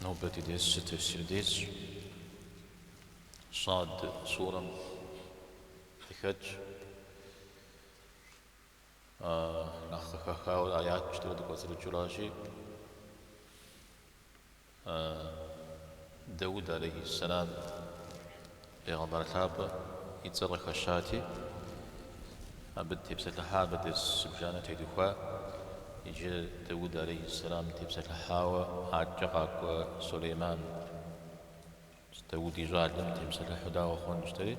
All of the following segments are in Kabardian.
Нобэ ди дерсыр тафсир дерсщ. Сад сурэм къыхэкӏ. Нэхъ къыхэхауэ аят пщтырэ дыкӏуэцӏрыкӏыу ращи, Дэуд алейхиссалам Пегъэмбар лъапӏэ и цӏэр къыхэщати, абы тепсэлъыхьа, абы дерс зыбжанэ тедухуа, иджы Дэуд алейхьэссэлам тепсэлъыхьауэ адэкӏэ къакӏуэ Сулейман, Дэуд и щӏалэм темыпсэлъыхьу дауэ хъун жытӏэри,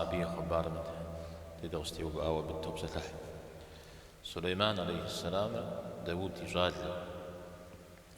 абы и хъыбарым дей дыкъыщытеувыӏауэ абы дытопсэлъыхь. Сулейман алейхьэссэламыр Дэуд и щӏалэ.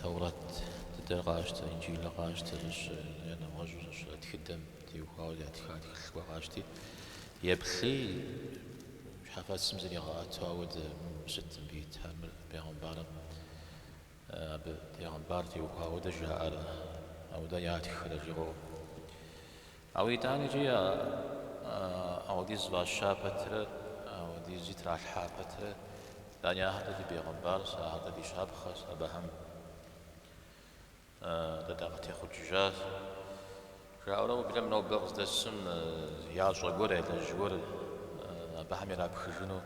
Тэурэт дыдэр къащтэ, Инджылыр къащтэ, зыщ я нэгъуэщӏу зыщ а тхыдэм теухуауэ ятха тхылъ гуэр къащти, еплъи, щхьэфэцым зригъэӏэту ауэдэ мыбы сыт мыбы ита мыр бегъымбарым абы бегъымбар теухуауэ ауэдэ жаӏэрэ, ауэдэ ятххэрэ жыуигъэӏэу. Ауэ итӏаникӏи а ауэдиз фӏаща пэтрэ, ауэдизи тралъхьа пэтрэ, итӏани ахэр дэ ди бегъымбарщ, ахэр дэ ди щапхъэщ, абыхэм дэ дакъытехъукӏыжащ, жаӏэурэ уеблэмэ нобэ къыздэсым ящӏэ гуэр, ялэжь гуэр абыхэм ирапхыжыну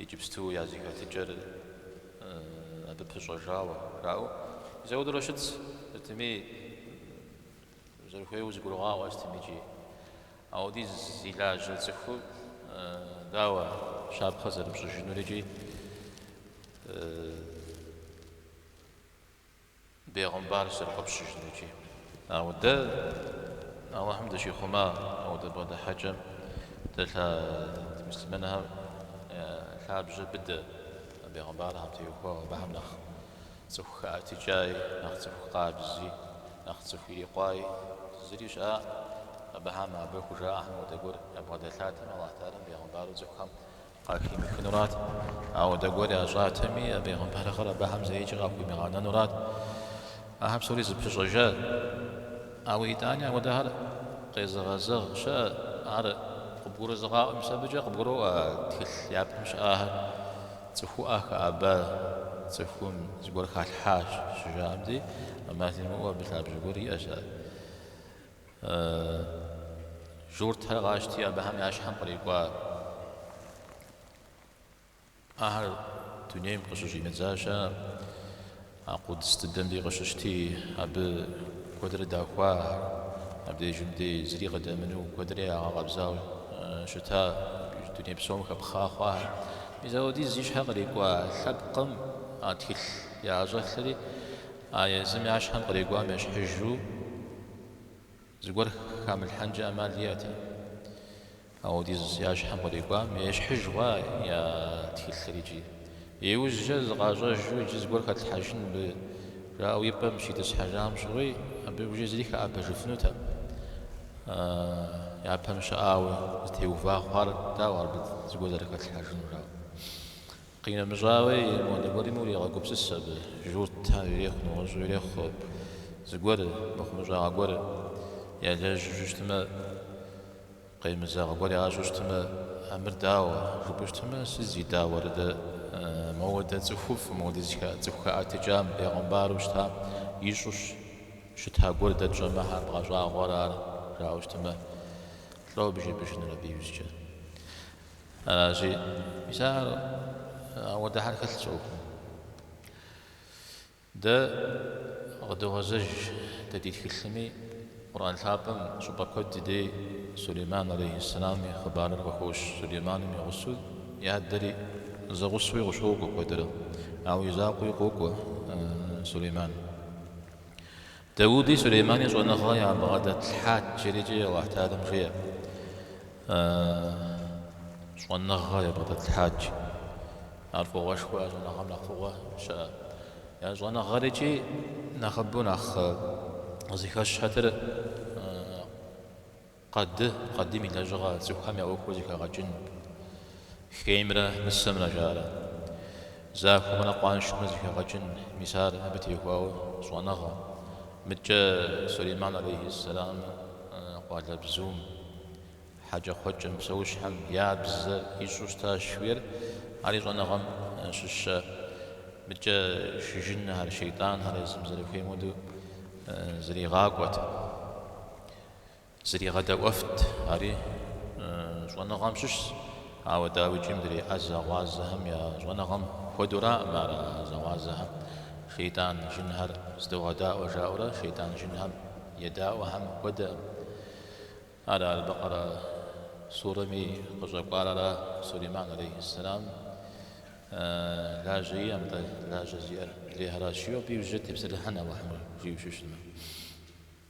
иджыпсту я зэхэлъыкӏэр абы пыщӏэжауэ жаӏэу зэудурэ щытщ, сытми Узэрыхуейуэ зыгурыгъаӏуэ ар сытми иджы. Ауэдиз зи лажьэ цӏыхур дауэ щапхъэ зэрыпщӏыжынур иджы бегъымбар зэрыфӏэпщыжынур иджы. Ауэ дэ Аллахьым дыщихъума ауэдэ бгъэдыхьэкӏэм дэлъа муслъымэнхэм я лъабжьэ быдэ бегъымбархэм теухуауэ абыхэм нэхъ Цӏыху хэӏэтыкӏаи, нэхъ цӏыху къабзи, нэхъ цӏыху ирикъуаи зыри щыӏакъым. Абыхэм абы хужаӏэхэм хуэдэ гуэр ябгъэдэлъатэми, Алыхь Тэхьэлэм бегъымбару цӏыхухэм къахимыхынурат. Ауэдэ гуэр ящӏатэми, а бегъымбарыгъэр абыхэм зэикӏи къахуимыгъэнэнурат. Ахэр псори зэпыщӏэжат. Ауэ итӏани апхуэдэхэр къезыгъэзэгъ щыӏэт. Ар къыбгурызыгъаӏуэм абыкӏэ къыбгуроӏуэ а тхылъ япэм щыӏэхэр. Цӏыхуӏэ хэӏэба цӏыхум зыгуэр халъхьащ щыжаӏэм дей, ӏэмал имыӏэу абы лъабжьэ гуэр иӏэщ ар. Журтхэр къащти, абыхэм я щхьэм кърикӏуахэр дунейм къыщыщӏидзащ ар. А къудс дыдэмри къыщыщти, абы куэдрэ дахуа ахэр. Абдежым дей зыри къыдэмыну куэдрэ ягъэкъэбзау щыта дуней псом хэпхъа хъуахэр. Мис ауэдиз зи щхьэ кърикӏуа лъэпкъым а тхылъ яӏэщӏэлъри, а езым я щхьэм кърикӏуам ещхьыжу зыгуэр хамылъхьэнкӏэ ӏэмал иӏэтэкъым. Ауэдиз я щхьэм кърикӏуам ещхьыж хъуа я тхылъыр иджы? Иужькӏэ зыкъащӏэжу иджы зыгуэр хэтлъхьэжын мыбы, жаӏэу и пӏэм щитӏысхьэжам щыгъуи, абы иужькӏэ зыри хэӏэбэжыфынутэкъым. Япэм щыӏауэ зытеува хъуар, дауэ абы зыгуэр зэрыхэтлъхьэжынур, жаӏэу. Къинэмыщӏауи, модэ гуэрми урегъэгупсыс абы, журт ар ирехъу, нэгъуэщӏу ирехъу зыгуэр, мыхъумыщӏагъэ гуэр ялэжьу щытмэ. Къемызэгъ гуэр ящӏу щытмэ, а мыр дауэ? жыпӏэу щытмэ, сы зи дауэр? Дэ моуэдэ цӏыхуфӏ, моуэдэ зы цӏыху хэӏэтыкӏам, бегъымбару щытам ищӏу щыта гуэр дэ тщӏэмэ, хьэ бгъэщӏагъуэр ар? жаӏэу щытмэ, лӏо абы жепӏэжынур абы иужькӏэ. Аращи, мис ар ауэдэхэр хэлъ щӏокъум. Дэ къыдогъэзэж дэ ди тхылъми Къурӏэн лъапӏэм щӏыпӏэ куэд дей Сулейман алейхьэссэлам и хъыбарыр къыхощ, Сулейманым и гъусэу и адэри зэгъусэуи къыщокӏуэ куэдрэ, ауэ и закъуэуи къокӏуэ Сулейман. Дауди Сулеймани щӏэныгъэ ябгъэдэтлъхьат, жерикӏи Алыхь Тэхьэлам жеӏэ. Щӏэныгъэ ябгъэдэтлъхьат. Ар фӏыгъуэшхуэ, а щӏэныгъэм нэхъ фӏыгъуэ щыӏэ. А щӏэныгъэрикӏи нэхъыбэу нэхъ зыхэщхьэтыр Къэды, къэдым и лэжьыгъэ цӏыхухэм я ӏуэхур зэхэгъэкӏын. Хеймрэ мысэмрэ жаӏэрэ. Захуэмрэ къуаншэмрэ зэхэгъэкӏын, мис ар абы техуауэ щӏэныгъэ. Мыдкӏэ Сулейман алейхи сэлам къуалэбзум, хьэкӏэкхъуэкӏэм, псэущхьэм я бзэ ищӏу щытащ хуейр, ари щӏэныгъэм щыщэ. Мыдкӏэ шы жынхэр, шейтӏанхэр езым зэрыхуейм хуэдэу зэригъакӏуэт. Зригъэдэӏуэфт, ари щӏэныгъэм щыщщ, ауэ дауикӏи мыдрей ӏэзэгъуазэхэм я щӏэныгъэм хуэдэураӏым ар, ӏэзэгъуазэхэм шейтӏан жынхэр здогъэдаӏуэ жаӏэурэ шейтӏан жынхэм едаӏуэхэм хуэдэкъым. Ар Аль-Бэкъэрэ сурэми къыщӏэкӏуар ара, Сулейман алейхьэссэлам лажьэ иӏэӏым, атӏэ лажьэ зиӏэр адрейхэращ, жиӏэу абы иужькӏэ дытепсэлъыхьын, Алыхьым ар жиӏэу щытмэ.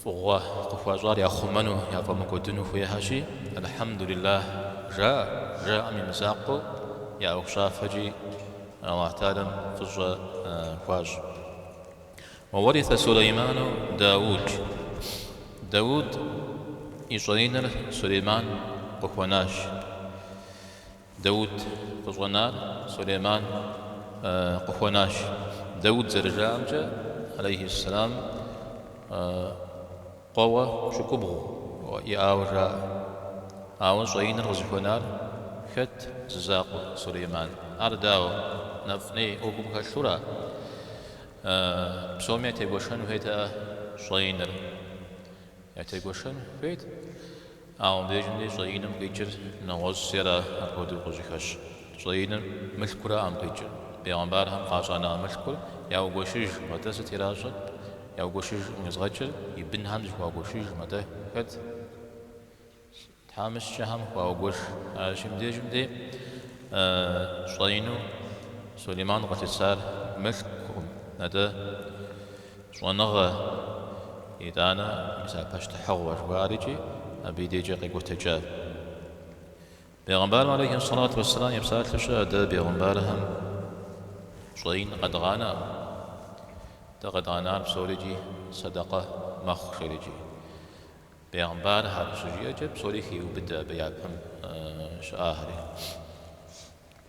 Фӏыгъуэ къыхуащӏар яхъумэну, яфӏэмыкӏуэдыну хуехьэщи, Эльхьэмдулиллахь жаӏэ, жаӏэм и мызакъуэу я ӏуэхущӏафэкӏи Алыхь Тэхьэлам фӏыщӏэ хуащӏ. Уэ уэриса Сулейману Дауд. Дауд и щӏэинэр Сулейман къыхуэнащ. Даут къыщӏэнар Сулейман къыхуэнащ. Даут зэрыжаӏэмкӏэ, алейхьиссэлам, къуэуэ пщӏыкӏубгъу иӏауэ жаӏэ. Ауэ щӏэиныр къызыхуэнар хэт зы закъуэ Сулейман? Ар дауэ, нэфӏ-ней ӏуэхум хэлъу ара? Псоми ятегуэшэн хуейтэкъэ щӏэиныр? Ятегуэшэн хуейт. Ауэ мыбдежым деи щӏэиным къикӏыр нэгъуэщӏщ, жери апхуэдэу къыщыхьащ. Щӏэиным мылъкуракъым къикӏыр. Бегъымбархэм къащӏэна мылъкур яугуэшыжкъым, атӏэ сыт иращӏэрт? Яугуэшыжкъым къезгъэкӏыр и бынхэм зыхуагуэшыжкъым, атӏэ хэт? Тхьэмыщкӏэхэм хуагуэш. Аращи, мыбдежым дей щӏэину Сулейман къылъысар мылъкукъым, атӏэ. Щӏэныгъэ, итӏанэ, мис а пащтыхьыгъуэ жыхуаӏэр икӏи абы и дежкӏэ къекӏуэтэкӏа. Бегъымбарым алейхи ссалату уэсселам и псалъэу щыӏэ, Дэ, бегъымбархэм, щӏэин къэдгъанэкъым. Дэ къэдгъанар псори икӏи сэдэкъэ мэхъу, жери икӏи. Бегъымбархэр щыжиӏэкӏэ псори хеубыдэ абы япэм щыӏахэри.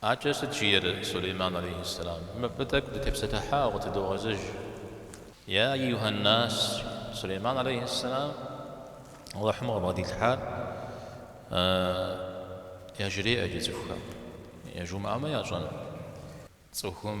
Акӏэ сыт жиӏэр Сулейман алейхи сэлам? Мыбы тӏэкӏу дытепсэлъыхьауэ къытыдогъэзэж. Я аюхьэннас, Сулейман алейхи сэлам Алыхьым къыбгъэдилъхьар яжреӏэ иджы цӏыхухэм, яжумыӏэмэ ящӏэн цӏыхум.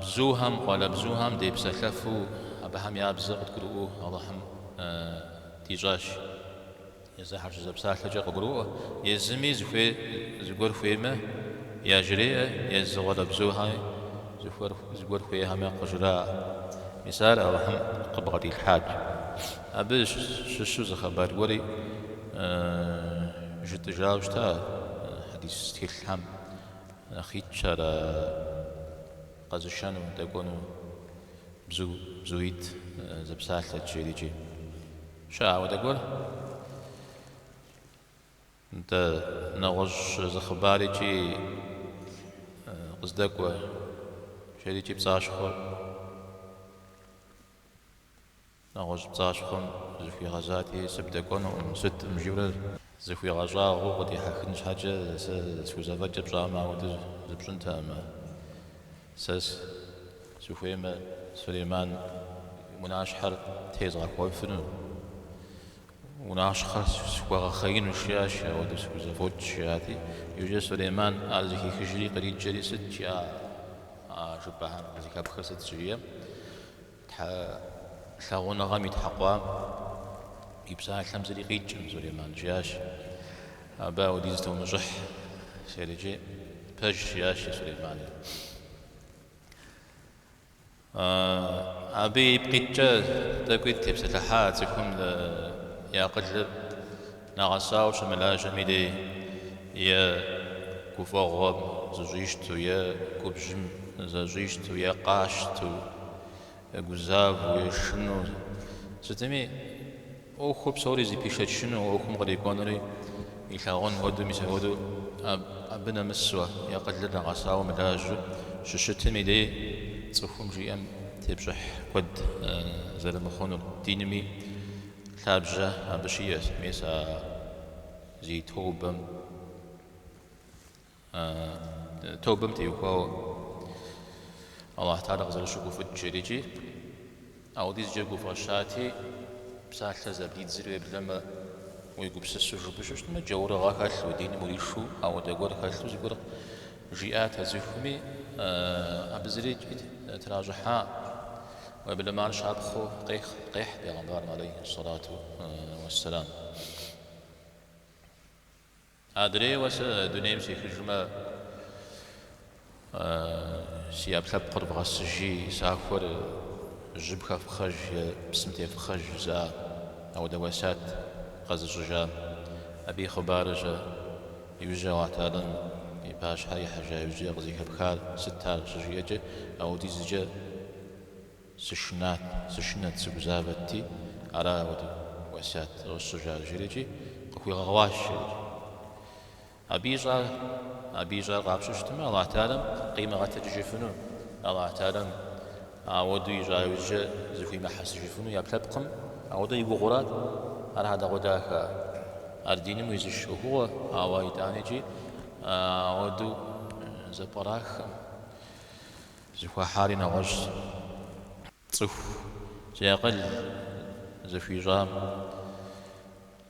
Бзухэм, къуалэбзухэм депсэлъэфу абыхэм я бзэр къыдгурыӏуэу Алыхьым дищӏащ. Езы ахэр щызэпсалъэкӏэ къыгурыӏуэ, езыми зыхуей зыгуэр хуеймэ, яжреӏэ, езы къуалэбзухэми зыгуэр хуейхэмэ, къыжраӏэ. Мис ар Алыхьым къыбгъэдилъхьат. Абы щыщу зы хъыбар гуэри жытӏыжауэ щыта хьэдис тхылъхэм. Нэхъ итщ ар къэзышэну, дэкӏуэну. Бзу, бзуитӏ зэпсалъэт, жери икӏи. Щыӏэ апхуэдэ гуэр? Нтӏэ, нэгъуэщӏ зы хъыбар икӏи къыздэкӏуэ, жери икӏи пцӏащхъуэ. Нэгъуэщӏ пцӏащхъуэм зыхуигъэзати, сыбдэкӏуэнукъым, сыткъым жиӏэурэ. Зыхуигъэщӏагъуэу къыдихьэхын щхьэкӏэ сэ схузэфӏэкӏыр пщӏамэ, ауэдэ зыпщӏынтэкъым. Сэ сыхуеймэ, Сулейман унащхьэр тезгъэхуэфыну, унащхьэр схуэгъэхъеину жиӏащ, ауэдэ схузэфӏокӏ, жиӏати, иужькӏэ Сулейман ар зэхихыжри къриджэри, сыт жиӏа а жыпӏэхэр къызыхэпхыр сыт щыжиӏэм, Тхьэ лъагъуныгъэм итхьэкъуам и псалъэм зыри къикӏкъым, Сулейман жиӏащ, Абы ауэдиз тумыщӏыхь, сельджи, пэжщ жиӏащ жи Сулеймани. Абы ипкъ иткӏэ тӏэкӏуи тепсэлъыхьа цӏыхум и акъылыр. Нэгъэсауэ щымылажьэм и дей е гуфӏэгъуэм зыщӏищту, е губжьым зэщӏищту, е къащту, е гузавэу, е шыну, сытми, ӏуэхур псори зэпишэчыну, ӏуэхум кърикӏуэнури илъагъун хуэдэу, мис апхуэдэу абы нэмысуэ, акъылыр нэгъэсауэ мылажьэу щыщытым и дей цӏыхум жиӏэм тепщӏыхь куэд зэрымыхъунур, динми Лъабжьэ абы щиӏэщ мес а зи тобэм, а тобэм теухуауэ Алыхьталэ къызэрыщыгуфӏыкӏыр икӏи ауэдизкӏэ гуфӏэщати, псалъэ зэблидзри уеблэмэ, уегупсысу жыпӏэу щыщытмэ, джаурыгъэ хэлъу, диным уришу, ауэдэ гуэр хэлъу зыгуэр Жиӏат а цӏыхуми, абы зыри тращӏыхьа, уеблэмэ ар щапхъэу къехь пегъэмбарым алейхи ссалату уэсселам. Адрейуэ сэ дунейм сехыжмэ, си ӏэпкълъэпкъыр вгъэсыжи, сахуэр жьым хэфхъэж е псым тефхъэж жызыӏа, ауэдэ уэсат къэзыщӏыжам. Абы и хъыбарыр щэ? Иужькӏэ Алыхьталэм и пащхьэ ихьэжа иужькӏэ къызыхэпхар сыт ар щыжиӏэкӏэ, Ауэдизкӏэ сышынат, сышынэт, сыгузавэти, ара апхуэдэу уэсят зэрысщӏыжар жиӏэри икӏи, къыхуигъэгъуащ, жиӏэри икӏи. Абы ищӏар, абы ищӏар къапщтэу щытмэ, Алыхьталэм къимыгъэтэджыжыфыну, Алыхьталэм Ауэдэу ищӏа иужькӏэ зэхуимыхьэсыжыфыну и ӏэпкълъэпкъым, ауэдэ и гугъэу арат ар хьэдэгъуэдахэ. Ар диным уизыш ӏуэхугъуэ, ауэ итӏани икӏи ауэдэу зэпкъраххэм зыхуахьари нэгъуэщӏщ. Цӏыху зи акъыл зэхуищӏам.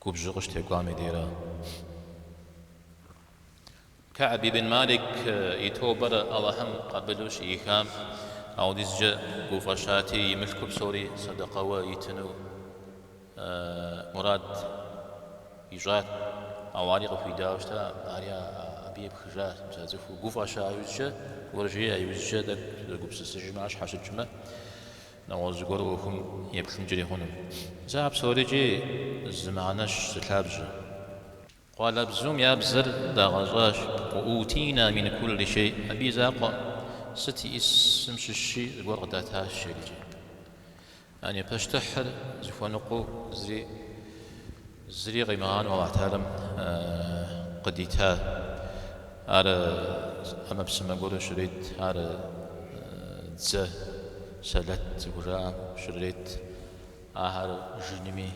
Губжьу къыщытекӏуам и дейрэ. Кэӏб ибн Малик и тобэр Алыхьым къабылу щыӏихам аудизкӏэ гуфӏэщати, и мылъку псори сэдэкъэуэ итыну мурад ищӏат. Ауэ ари къыхуидауэ щыта, ари абы епхыжащ. Мис а цӏыху гуфӏэща иужькӏэ, губжьа иужькӏэ тӏэкӏу зэгупсысыжмэ, ар щхьэщыкӏмэ. Нэгъуэщӏ зыгуэру ӏуэхум еплъынкӏэри хъуну? Мис а псорикӏи зы мыхьэнэщ зы лъабжьэ. Къуалэбзум я бзэр дагъэщӏащ. Уэ утина мин кулли шей. Абы и закъуэ сыт иӏисым щыщи зыгуэр къыдатащ иджы. А пащтыхьыр зыхуэныкъуэу зыри Зыри къимыгъанэу Алыхь Тэхьэлам къыдита, Ар ӏэмэпсымэ гуэру щрет, Ар дзэ, сэлэт зыхужаӏэм щрет, ахэр жынми,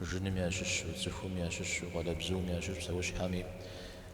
жыным ящыщу, цӏыхум ящыщу, къуалэбзум ящыщу, псэущхьэми,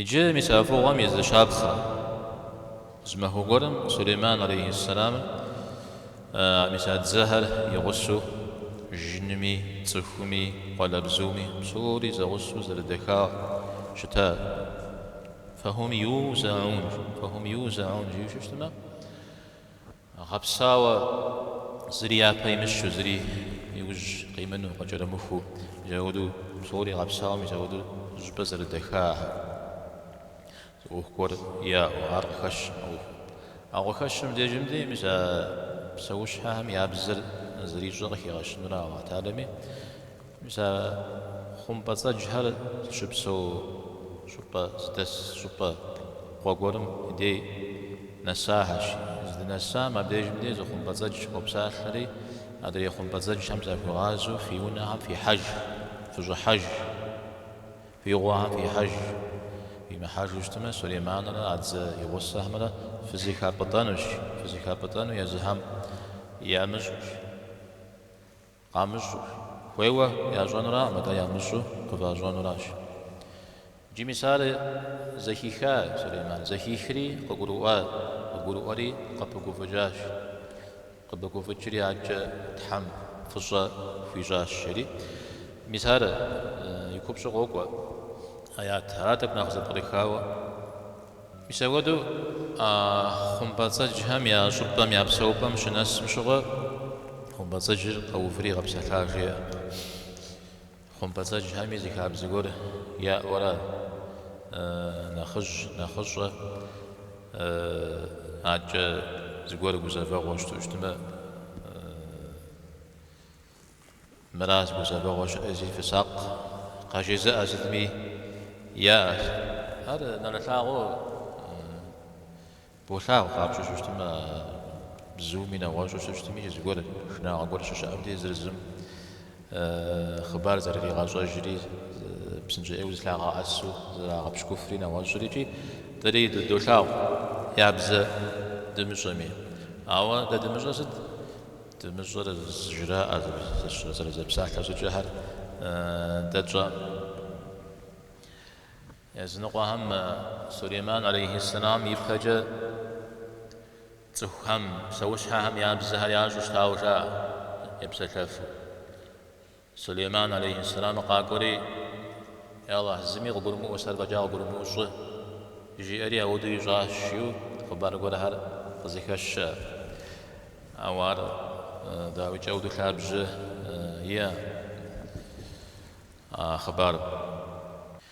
Иджы мис а фӏыгъуэм и зы щапхъэ зы махуэ гуэрым Сулейман алейхьэссэламым мис а дзэхэр и гъусэу жынми, цӏыхуми, къуалэбзуми псори зэгъусэу зэрыдэхауэ щытар. Фэхум юзаӏун, фэхум юзаӏун жиӏэу щыщытмэ, Гъэпсауэ, зыри япэ имыщу, зыри иужь къимыну, къыкӏэрымыхуу, мис апхуэду псори гъэпсауэ, мис апхуэду зыщӏыпӏэ зэрыдэхахэм зы ӏуэху гуэр яӏэу, ар къыхэщ а ӏуэхум. Ауэ къыхэщым дежым дей мис а псэущхьэхэм я бзэр зэрищӏэр къыхигъэщынура Алыхь Тэхьэлами, Мис а хъумпӏэцӏэджхэр зыщыпсэу щӏыпӏэ, зыдэс щӏыпӏэ къуэ гуэрым и дей нэсахэщ. Здынэсам абдежым дей зы хъумпӏэцӏэдж къопсалъэри, адрей хъумпӏэцӏэджхэм захуигъазэу фи унэхэм фихьэж, фыщӏыхьэж, фи гъуэхэм фихьэж. Фимыхьэжу щытмэ, Сулейманрэ а дзэ и гъусэхэмрэ фызыхапӏытӏэнущ, фызыхапӏытӏэну езыхэм ямыщӏущ. Къамыщӏэу. Хуейуэ ящӏэнураӏым, атӏэ ямыщӏу къыващӏэнуращ. Иджы мис ар, зэхиха Сулейман. Зэхихри, къыгурыӏуат. Къыгурыӏуэри, къыпыгуфӏыкӏащ. Къыпыгуфӏыкӏри, адэкӏэ Тхьэм фӏыщӏэ хуищӏащ, жери. Мис ар и купщӏу къокӏуэ аят. Арат тӏэкӏу нэхъ зэпкърыхауэ. Мис апхуэдэу хъумпӏэцӏэджхэм я щӏыпӏэм, я псэупӏэм щынэсым щыгъуэ хъумпӏэцӏэджыр къэуври къэпсэлъа жеӏэри. Хъумпӏэцӏэджхэми зы хабзэ гуэр яӏэурэ, нэхъыжь, нэхъыщӏэ, адэкӏэ зыгуэр гузэвэгъуэ щыту щытмэ, Мыра зы гузэвэгъуэ щыӏэщи фысакъ, къажезыӏэ сытми яӏэт. Ар нэрылъагъуу болъагъу къапщӏу щыщытмэ, бзуми нэгъуэщӏу щыщытми, зы зыгуэр шынагъуэ гуэр щыщыӏэм де зыр зым хъыбар зэрыригъэщӏэжри, псынщӏэ ӏейуэ зылъагъэӏэсу зэрагъэпщкӏуфри нэгъуэщӏри икӏи дэри дыдолъагъу я бзэ дымыщӏэми. Ауэ дэ дымыщӏэ сыт? Дымыщӏэр зыжраӏэ зэрызэпсалъэ щӏыкӏэхэр дэ тщӏэ? Языныкъуэхэм Сулейман алейхи сэлам ипэкӏэ цӏыхухэм, псэущхьэхэм я бзэхэр ящӏу щытауэ жаӏэ, епсэлъэфу. Сулейман алейхи сэлам къакӏуэри, Е Алыхь, зыми къыгурымыӏуэ, сэр фӏэкӏа къыгурымыӏуэу щӏы, жиӏэри ауэдэу ищӏащ, жиӏэу хъыбар гуэрхэр къызэхэщэ. Ауэ ар дауикӏ ауду лъабжьэ иӏэ а хъыбарым.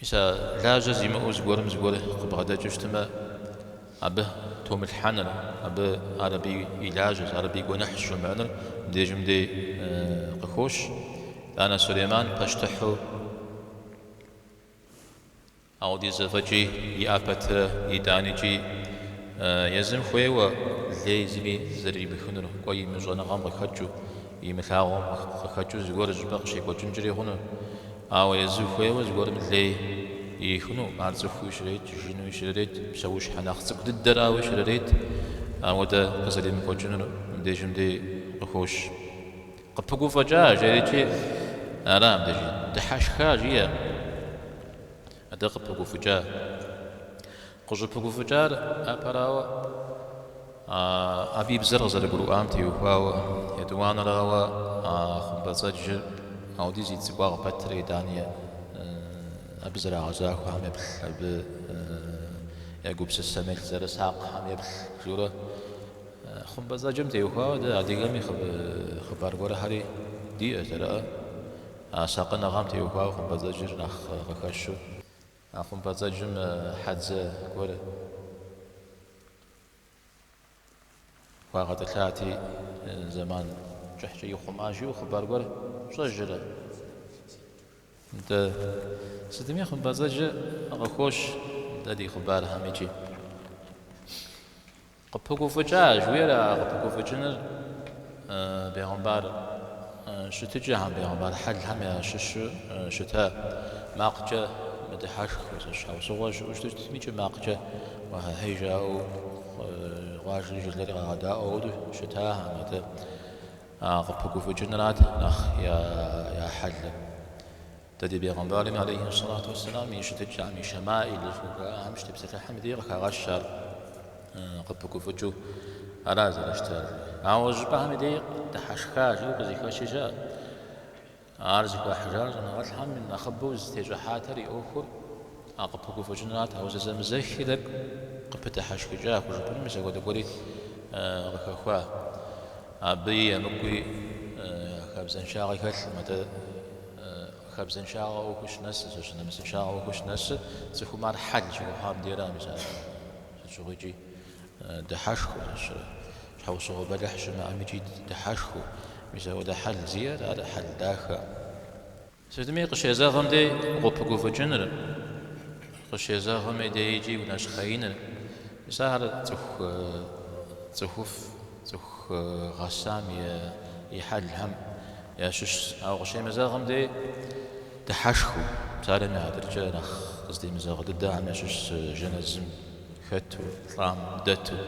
Мис а лажьэ зимыӏэу зыгуэрым зыгуэр къыбгъэдэкӏыу щытмэ, абы томылъхьэныр, абы ар абы и лажьэщ, ар абы и гуэныхьщ жумыӏэныр мыбдежым дей къыхощ. Итӏанэ Сулейман пащтыхьу аудиз зэфӏэкӏи иӏа пэтырэ, итӏани икӏи езым хуейуэ лей зыми зэрыримыхынур, кӏуэ имыщӏэныгъэм къыхэкӏыу, Имылъагъум къыхэкӏыу зыгуэр щӏыпӏэ къыщекӏуэкӏынкӏэри хъуну, ауэ езы хуейуэ зыгуэрым лей ихыну, ар цӏыхууи щрет, жынуи щрырет, псэущхьэ нэхъ цӏыкӏу дыдэрауи щрырет, ауэдэ къызэримыкӏуэкӏынур мыбдежым дей къыхощ. Къыпыгуфӏыкӏа, жери икӏи, ара мыбдеж? Дыхьэшха, жиӏэркъым. Атӏэ къыпыгуфӏыкӏа? Къыщӏыпыгуфӏыкӏар апэрауэ, абы и бзэр къызэрыгурыӏуам теухуауэ, етӏуанэрауэ, а хъумпӏэцӏэджыр аудиз и цӏыкӏуагъ пэтрэ итӏани абы зэрагъэзахуэхэм еплъ, абы я гупсысэм еплъ зэрысакъхэм еплъ, журэ. Хъумпӏэцӏэджым теухуауэ дэ адыгэми хъыбар гуэрхэри диӏэ, жэрыӏэ. А сакъыныгъэм теухуауэ хъумпӏэцӏэджыр нэхъ къыхэщу. А хъумпӏэцӏэджым хьэдзэ гуэр хуагъэтӏылъати, зэман кӏыхькӏэ ихъумащ, жиӏэу хъыбар гуэр щӏэжрэ? Нтӏэ, сытми хъумпӏэцӏэджыр къыхощ дэ ди хъыбархэм икӏи. Къыпыгуфӏыкӏа, жиӏэр а къыпыгуфӏыкӏыныр бегъымбар щытыкӏэхэм, бегъымбар хьэлхэм ящыщу щыта макъкӏэ мыдыхьэшхыу, сыт щхьэусыгъуэ щыӏэу щытмикӏ, макъкӏэ уахьахьей жаӏэу къуажэри жылэри къагъэдаӏуэ хуэдэу щытахэм, атӏэ а къыпыгуфӏыкӏынырат нэхъ я хьэлыр. Дэ ди Бегъымбарми, алейхи сэлату уэсселам, и щытыкӏэм, и шэмаил жыхуаӏэм щытепсэлъыхьым дей къыхагъэщ ар къыпыгуфӏыкӏыу. Ара зэрыщытар. Ауэ щӏыпӏэхэм и дей дыхьэшха жиӏэу къызыхэщи щыӏэ. Ар зыхуахьыжар щӏэныгъэлӏхэм нэхъыбэу зытещӏыхьатэр и ӏуэхур а къыпыгуфӏыкӏынырат. Ауэ зэзэмызэхи тӏэкӏу къыпыдыхьэшхыкӏа хужыпӏэну мис апхуэдэ гуэри къыхэхуа. Абыи емыкӏуи хабзэншагъи хэлъым. Атӏэ. Хабзэншагъэ ӏуэхуу щынэсыр, зэщ нэмысыншагъэ ӏуэхуу щынэсыр цӏыхум ар хьэл щыхуэхъуам дейракъэ, мис ар сыт щыгъуикӏи дыхьэшхыу, щхьэусыгъуэ бэлыхь щымыӏэмикӏи дыхьэшхыу, мис апхуэдэ хьэл зиӏэр ар хьэл дахэкъым. Сытми къыщезэгъым дей укъыпыгуфӏыкӏыныр, къыщезэгъым дей икӏи унэщхъеиныр, мис ахэр цӏыху цӏыхуфӏ Цӏыху гъэсам и хьэлхэм ящыщщ. Ауэ къыщемызэгъым дей дыхьэшхыу, псалъэм и хьэтыркӏэ нэхъ къыздемызэгъ дыдэхэм ящыщщ жэнэзым хэту, лӏам дэту,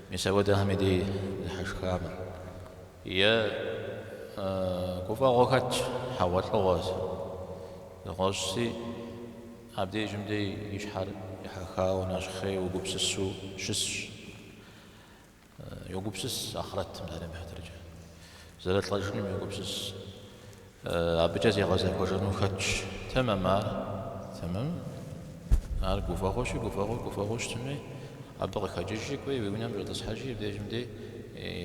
мис апхуэдэхэми дей дыхьэшхамэ. Е гуфӏэгъуэ хэтщ, хьэгъуэлӏыгъуэ зыгуэ щӏэси, абдежым дей и щхьэр ехьэхауэ нэщхъейуэ, гупсысэу щысщ. Йогупсыс ахърэтым, псалъэм и хьэтыркӏэ. Зэрылӏэжыным йогупсыс. Абыкӏэ зигъэзэхуэжыну хэтщ. Тэмэм ар, тэмэм. Ар гуфӏэгъуэщи, гуфӏэгъуэ, гуфӏэгъуэ щытми, абы къыхэкӏыжи, кӏуи, уи унэм щӏэтӏысхьэжи, мыбдежым дей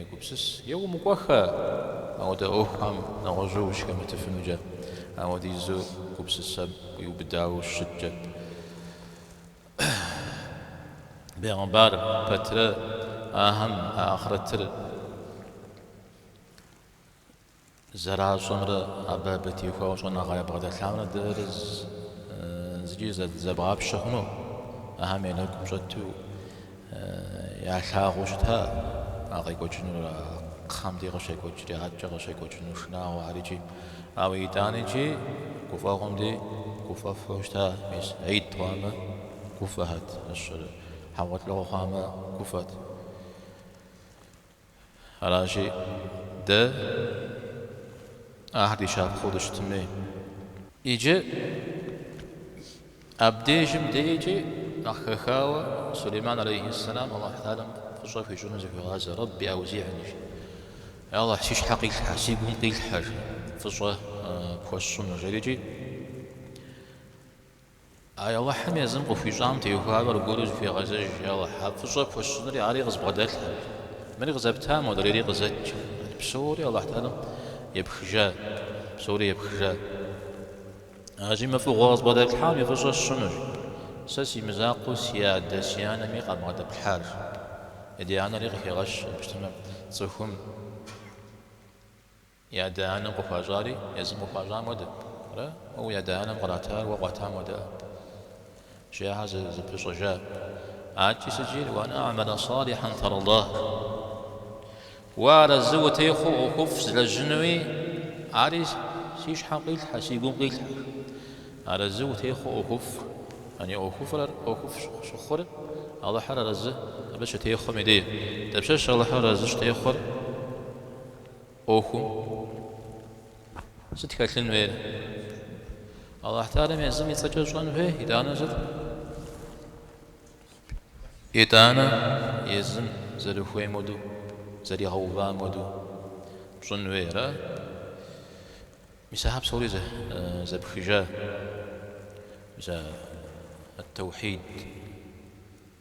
егупсыс. Е умыкӏуэхэ! Ауэдэ ӏуэхухэм нэгъуэщӏу ущыхэмытыфынукӏэ, ауэдизу гупсысэм уиубыдауэ ущыткӏэ. Бегъымбар пэтрэ ахэм а ахърэтыр зэращӏэмрэ абы абы теухуауэ щӏэныгъэ ябгъэдэлъамрэ дэрэ зыкӏи зэбгъапщэ хъуну, ахэм я нэгум щӏэту. Ялъагъуу щыта а къекӏуэкӏынур, а кхъэм дей къыщекӏуэкӏри, адэкӏэ къыщекӏуэкӏыну шынагъуэхэрикӏи. Ауэ итӏаникӏи гуфӏэгъуэм дей гуфӏэфу щыта, мис ӏид хъуамэ, гуфӏэхэт, мис ар хьэгъуэлӏыгъуэ хъуамэ, гуфӏэт. Аращи, дэ ахэр ди щапхъэу дыщытын хуей. Иджы абдежым деикӏи нэхъ хэхауэ Сулейман алейхи ссэлам Аллахь Тэхьэлэм фӏыщӏэ хуищӏыну зыхуегъазэ, Рэбби аузигьни, жи. Ей Аллахь, си щхьэ къилъхьэ, си гум къилъхьэ, жи, фӏыщӏэ пхуэсщӏыну, жери икӏи. Ай Алыхьым езым къыхуищӏам теухуауэ аргуэру зыхуегъэзэж, я Алыхь, а фӏыщӏэ пхуэсщӏынри ари къызбгъэдэлъхьэ. Мыри къызэпта, модрейри къызэт икӏи. Псори Алыхь Тэхьэлэм епхыжа, псори епхыжа. Аращи мы фӏыгъуэ къызбгъэдэплъхьам и фӏыщӏэ сщӏынущ. Сэ си мызакъуэу си адэ, си анэми къабгъэдэплъхьар. Адэ-анэри къыхегъэщ, абы щытмэ, цӏыхум. И адэ-анэм къыхуащӏари езым къыхуащӏам хуэдэт, ара? Уэ уи адэ-анэм къратар уэ къуатам хуэдэӏэ? Жи ахэр зэпыщӏэжа. Адэкӏэ сыт жиӏэр, уан а'мэла салихьан тардахь. Уэ арэзы утехъуу ӏуэхуфӏ злэжьынуи, ари си щхьэм къилъхьэ, си гум къилъхьэ. Арэзы утехъуу ӏуэхуфӏ. Ани ӏуэхуфӏыр, ӏуэхуфӏ щыхъур Алыхьыр арэзы абы щытехъуэм и деж. Дапщэщ Алыхьыр арэзы щытехъуэр? ӏуэхум сыт хэлъын хуейр? Аллахь Тэхьэлэм езым и цӏэкӏэ щӏэн хуей, итӏанэ сыт? Итӏанэ езым зэрыхуейм хуэдэу, зэригъэувам хуэдэу пщӏын хуейрэ? Мис ахэр псори зэпхыжа, мис а теухьид.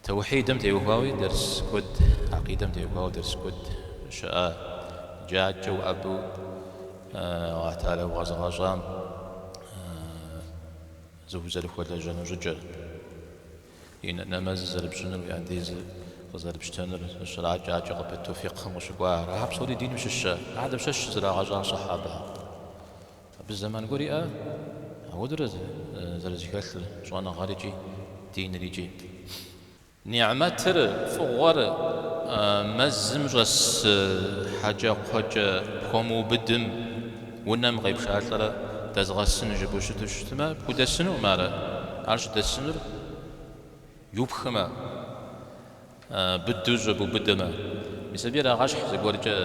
Теухьидэм теухуауи дэрс куэд, акъидэм теухуауи дэрс куэд щыӏэ, джаджэу Алыхь Тэхьэлэ укъэзыгъэщӏам узэрыхуэлэжьэну щӏыкӏэр, и нэмэзыр зэрыпщӏынур, уи андезыр къызэрыпщтэнур зыщракӏэ, адэкӏэ къыпыту фикъхым къыщыкӏуахэр, ахэр псори диным щыщ. Ахэм щыщ зрагъэщӏа сыхьэбэхэм Абы зэман гуэр иӏэ, ауэдурэ зэрызэхэлъыр щӏэныгъэр икӏи диныр икӏи. Нигьмэтыр, фӏыгъуэр, мэзым щӏэс хьэкӏэкхъуэкӏэ пхуэмыубыдым, унэм къепшалӏэрэ дэзгъэсын жыпӏэу щыту щытмэ, пхудэсынукъым ар, ар щыдэсынур иупхмэ. Быдэу щӏэбубыдэмэ, мис абы ирагъэщхь зыгуэркӏэ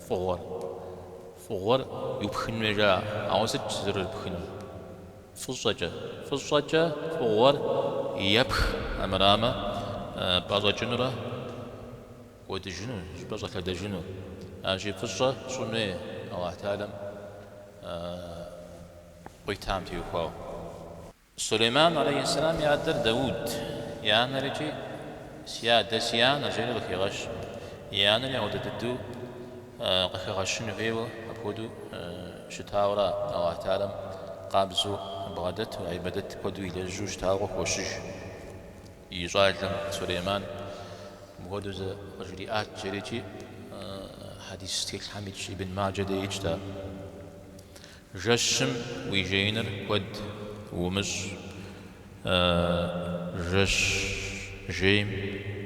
фӏыгъуэр. Фӏыгъуэр иупхын хуей жаӏэ, ауэ сыт зэрырыпхынур? Фӏыщӏэкӏэ. Фӏыщӏэкӏэ фӏыгъуэр епх, армырамэ, пӏэщӏэкӏынурэ кӏуэдыжыну, щӏыпӏэ щӏэлъэдэжыну. Аращи, фӏыщӏэ щӏын хуей Алыхь Тэхьэлэм къуитам теухуауэ. Сулейман алейхьэссэлам и адэр Дауд, и анэр икӏи, Си адэ, си анэ! жери къыхигъэщ. И анэр ягъуэтэ дыдэу къыхэгъэщын хуейуэ апхуэдэу щытауэра Аллахь Тхьэлэм къабзэу бгъэдэту, гьибэдэт куэду илэжьу щытауэ къыхощыж и щӏалэм Сулейман. Мыпхуэдэу зэ къыжриӏат, жери икӏи хьэдис тхылъхэм итщ, Ибн Маджэ де итщ ар. Жэщым уи жеиныр куэд умыщӏ, жэщ жейм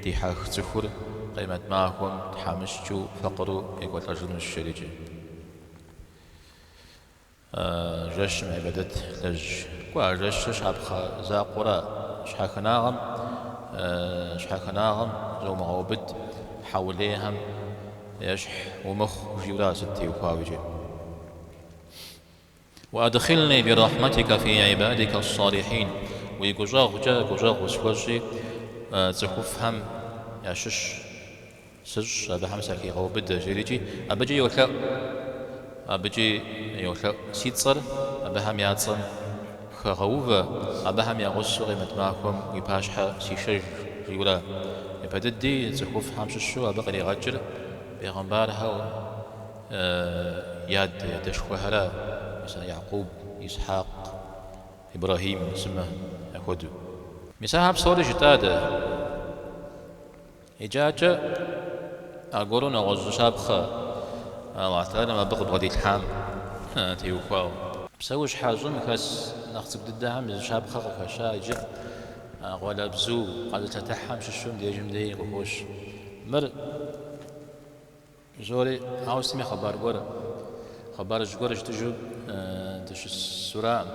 дихьэх цӏыхур къемэт махуэм тхьэмыщкӏыу факъыру екӏуэлӏэжынущ жерикӏи. Жэщым гьибэдэт лэжь. Кӏуэ, а жэщыр щапхъэ закъуэра? Щхьэхынагъэм, щхьэхынагъэм зумыгъэубыд, хьэулейхэм ещхь умыхъу, жиӏэура сыт теухуауэ икӏи. Уадхилни би рахьматика фи ибадика ас-салихин, уи гущӏэгъукӏэ гущӏэгъу усхуэщӏи цӏыхуфӏхэм ящыщ сыщӏ, абыхэм сахигъэубыдэ, жиӏэрикӏи, абыкӏи йолъэӏу, абыкӏи йолъэӏу, си цӏэр абыхэм я цӏэм хэгъэувэ, абыхэм я гъусэу къимэт махуэм уи пащхьэ сишэж, жиӏэурэ, япэ дыди цӏыхуфӏхэм щыщу абы къригъэкӏыр пегъымбархэу, Ы-ы-ы! Я адэ, я адэшхуэхэра, мис а Якъуб, Исхьакъ, Ибрэхьим, сымэ яхуэдэу. Мис ахэр псори жытӏа дэ? Иужькӏэ аргуэру нэгъуэщӏ зы щапхъэ Аллахь Тхьэлэм абы къыбгъэдилъхьам теухуауэ. Псэущхьэ щӏым хэс нэхъ цӏыкӏу дыдэхэм я зы щапхъэ къыхэща иджы а къуалэбзу къэзылъэтыхьхэм щыщу мыбдежым дей къыхощ. Мыр. Жори, ауэ сытми хъыбар гуэр, хъыбарыжь гуэр жытӏэжу дыщысураӏым.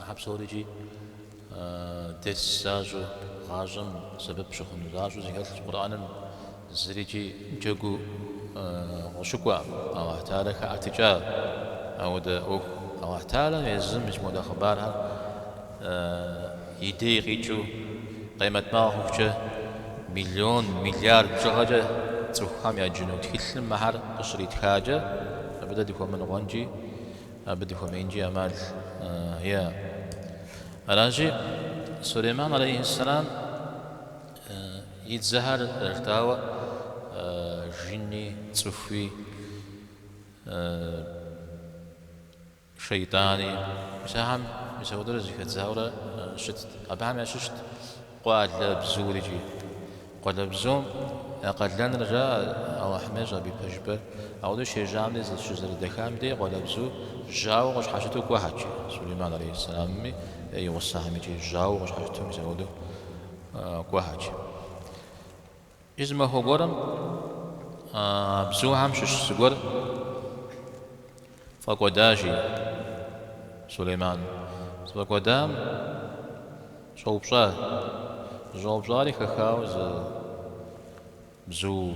Ахэр псори икӏи дерс защӏэу, гъащӏэм сэбэп щыхъуну защӏэу зэхэлъщ Къурӏэным, зыри икӏи джэгуу къыщыкӏуэкъым. Аллахь Тхьэлэ хэӏэтыкӏащ апхуэдэ ӏуэху. Аллахь Тхьэлэм езым мис мыхуэдэ хъыбархэр и дей къикӏыу, къемэт махуэ хъухукӏэ, миллион, миллиард бжыгъэкӏэ цӏыхухэм яджыну тхылъым мыхэр къыщритхакӏэ, абы дэ дыхуэмыныкъуэнкӏи, абы дыхуэмеинкӏи ӏэмал иӏэ? Аращи, Сулейман алейхьэссэлам и дзэхэр зэрыжытӏауэ жини, цӏыхуи, Шейтӏани, мис ахэм мис ауэдэурэ зыхэдзаурэ щытт. Абыхэм ящыщт къуалэбзур икӏи. Къуалэбзум я къалэныр жаӏэ Алыхьым ещӏэ абы и пэжыпӏэр. Ауэдэу щежьам дей щызэрыдэхам дей къуалэбзу жьауэу къыщхьэщыту кӏуэхэт, жи. Сулейман алейхьэссэламми и гъусэхэм икӏи жьауэу къыщхьэщыту мис ауэдэу кӏуэхэт. Зы махуэ гуэрым а бзухэм щыщ зыгуэр фӏэкӏуэда, жи, Сулейман. Зыфӏэкӏуэдам щӏэупщӏа, зыщӏэупщӏари хэхауэ зы бзу.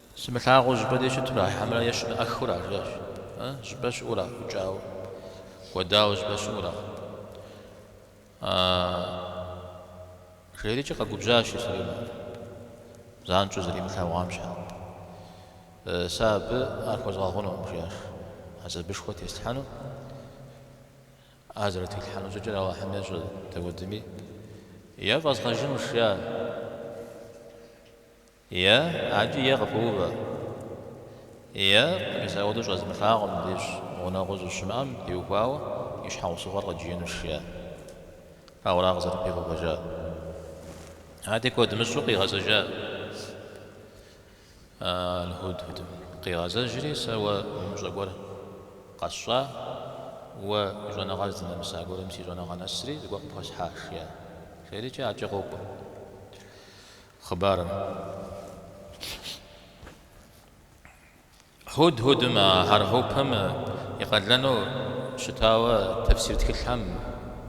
Сымылъагъуу зыщӏыпӏэ дей щыту ара хьэмрэ е щымыӏэххэу ара, жиӏащ, э, зыщӏыпӏэ щыӏу ара, ӏукӏауэ, кӏуэдауэ зыщӏыпӏэ щыӏу ара, а, жери икӏи къэгубжьащ Исуринэ, занщӏэу зэримылъэгъуам щхьэ. Э, сэ абы ар хуэзгъэгъунукъым, жиӏащ, хьэзабышхуэ теслъхьэну, а зэрытилъхьэну щӏыкӏэр Алыхьым ещӏэ, дауэдэми, е фӏэзгъэжынущ, жиӏа. Е, адэкӏи е къыпыувэ. Е, мис ауэдэу щӏэзмылъагъум мыбдеж гъунэгъуу щӏыщымыӏэм теухуауэ и щхьэусыгъуэр къызжиӏэнущ, жиӏэ. Ауэ ара къызэрыпигъэувэжар. Ади куэд мыщӏу къигъэзэжа Аль-Худхудым. Къигъэзэжри, сэ уэ умыщӏэ гуэр къэсщӏа, уэ уи щӏэныгъэр здынэмыса гуэрым си щӏэныгъэ нэсри зыгуэр къыпхуэсхьа, жиӏэ. Жери икӏи адэкӏэ къокӏуэ. хъыбарым. Худхудым а хьэрхьупым и къалэну щытауэ тэфсир тхылъхэм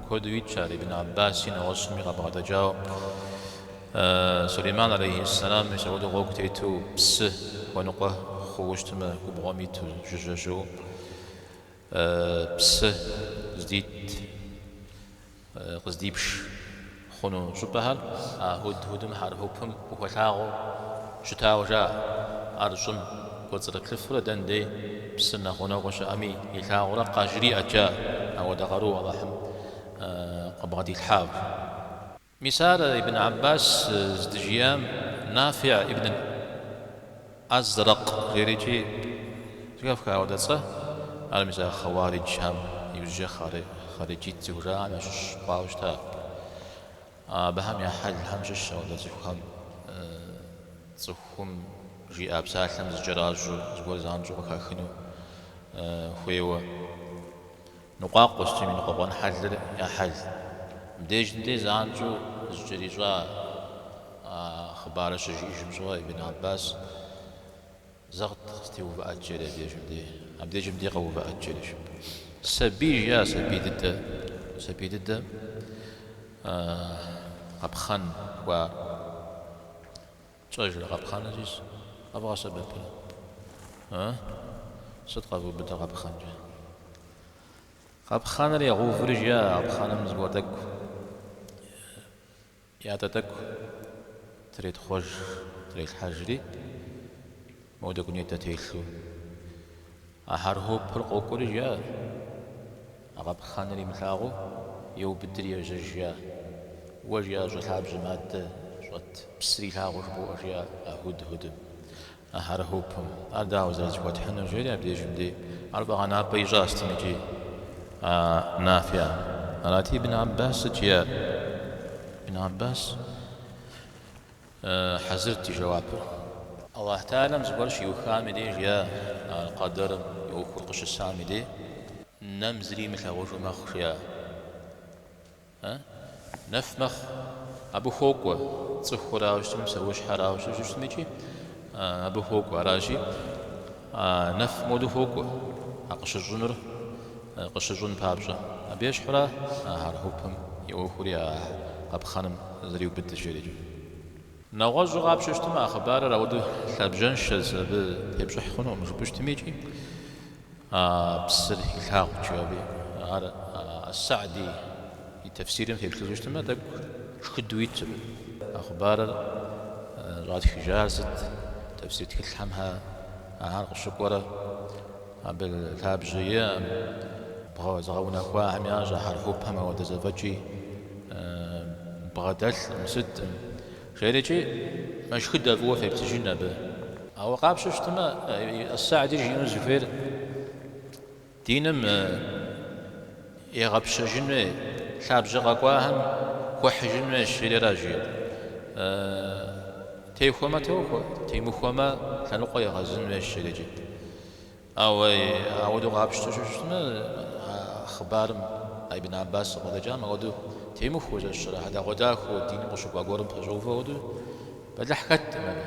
куэду итщ, ар Ибн Аббаси нэгъуэщӏми къабгъэдэкӏауэ. Сулейман алейхьиссэлам мис ауэдэу гъуэгу тету псы хуэныкъуэ хъууэ щытмэ, губгъуэм иту жыжьэжьу псы здит. къыздипш хъуну щӏыпӏэхэр а Худхудым, хьэрхьупым хуэлъагъуу щытауэ жаӏэ. Ар щӏым кӏуэцӏрыплъыфурэ дэн дей псыр нэхъ гъунэгъуу щыӏэми илъагъурэ къажриӏэт жаӏэ, ауэдэ къару Алыхьым къыбгъэдилъхьауэ. Мис ар Ибн Аббас здыжиӏам Нафи ибн. Азрэкъ жери икӏи, зэхэфха ауэдэ цӏэ, ар мис а Хъэуариджхэм, иужькӏэ Хъариджит зыхужаӏам ящыщ хъуауэ щыта. Абыхэм я хьэлхэм щыщщ ауэдэ цӏыхухэм цӏыхум жиӏа псалъэм зыкӏэращӏэу, зыгуэр занщӏэу къыхахыну хуейуэ. Ныкъуакъуэу щытми ныкъуэкъуэн хьэлыр я хьэл. Мыбдежым де занщӏэу зыкӏэрищӏа а хъыбарыр щыжиӏэжым щыгъуэ Ибн Аббас зэ къызэтеувыӏэт жери абдежым де, абдежым де къэувыӏэт жери щыпӏ. Сабий жиӏа сабий дыдэ, сабий дыдэ къэпхъэн хуар. Фщӏэжрэ къэпхъэныр зищӏыс къэвгъэсэбэпрэ? Ы? Сыт къэвубыдэ къэпхъэнкӏэ? Къэпхъэныр егъэуври жиӏэ а къэпхъэным зыгуэр тӏэкӏу, ятӏэ тӏэкӏу третхъуэж, трелъхьэжри, Модэ дунейм телъу. А хьэрхьупыр къокӏуэри жаӏэ. А къэпхъэныр имылъагъуу, еубыдри ежьэж жаӏэ. Уэ жиӏа щӏы лъабжьэм адэ щӏэт псыр илъагъуу жыбоӏэ жиӏэ а худхудым, а хьэрхьупым. Ар дауэ зэрызэхуэтхьынур жери абы дежым дей. Ар фӏэгъэнапӏэ ищӏа щытым икӏи а Нафиӏэм. Арати, Ибн Аббас сыт жиӏэр? Ибн Аббас. Хьэзырт и жэуапыр. Аллахь Тэӏалам зыгуэр щиухам и деж жиӏа Къэдэрым и ӏуэхур къыщысам и де нэм зыри имылъагъужу мэхъу жиӏэ? Э? Нэф мэхъу. Абы хуокӏуэ, цӏыхурауэ щытми, псэущхьэрауэ щытми икӏи абы хуокӏуэ. Аращи, А нэфым хуэдэу хуокӏуэ а къыщыщӏынур къыщыщӏын папщӏэ. Абы ещхьура а хьэрхьупым и ӏуэхури а къапхъэным зэриубыдыр жери икӏи. Нэгъуэщӏу къапщтэу щытмэ, а хъыбарыр ауэдэу лъабжьэншэщ, абы тепщӏыхь хъунукъым жыпӏэу щытми икӏи а псыр илъагъут, жиӏэри ар ас-Сади. и тэфсирым деплъыжу щытмэ, тӏэкӏу шхыдэу итщ, а хъыбарыр щӏатхыжар сыт, тэфсир тхылъхьэм ахэр къыщыкӏуэрэ, абы лъабжьэ иӏэм, зыгъэунэхуахэм ящӏэ а хьэрхьупым ауэдэ зэфӏэкӏи бгъэдэлъкъым, сыткъым, жери икӏи мэшхыдэ фӏыуэ феплъыжын абы. Ауэ къапщтэу щытмэ, Ас-Сади жиӏэну зыхуейр Диным егъэпщэжын хуей лъабжьэ къэкӏуахэм хуэхьыжын хуейщ жери жи. Техуэмэ, тохуэ, темыхуэмэ, лъэныкъуэ егъэзын хуейщ жери икӏи. Ауэ ауэдэу къапщтэу щытмэ, а хъыбарым а Ибн Аббас къыдэкӏам ауэдэу темыхуэу зэщэрэ хьэдэгъуэдахэу диным къыщыкӏуа гуэрым пэщӏэувэу ауэдэу бэлыхь хэттэкъым абы.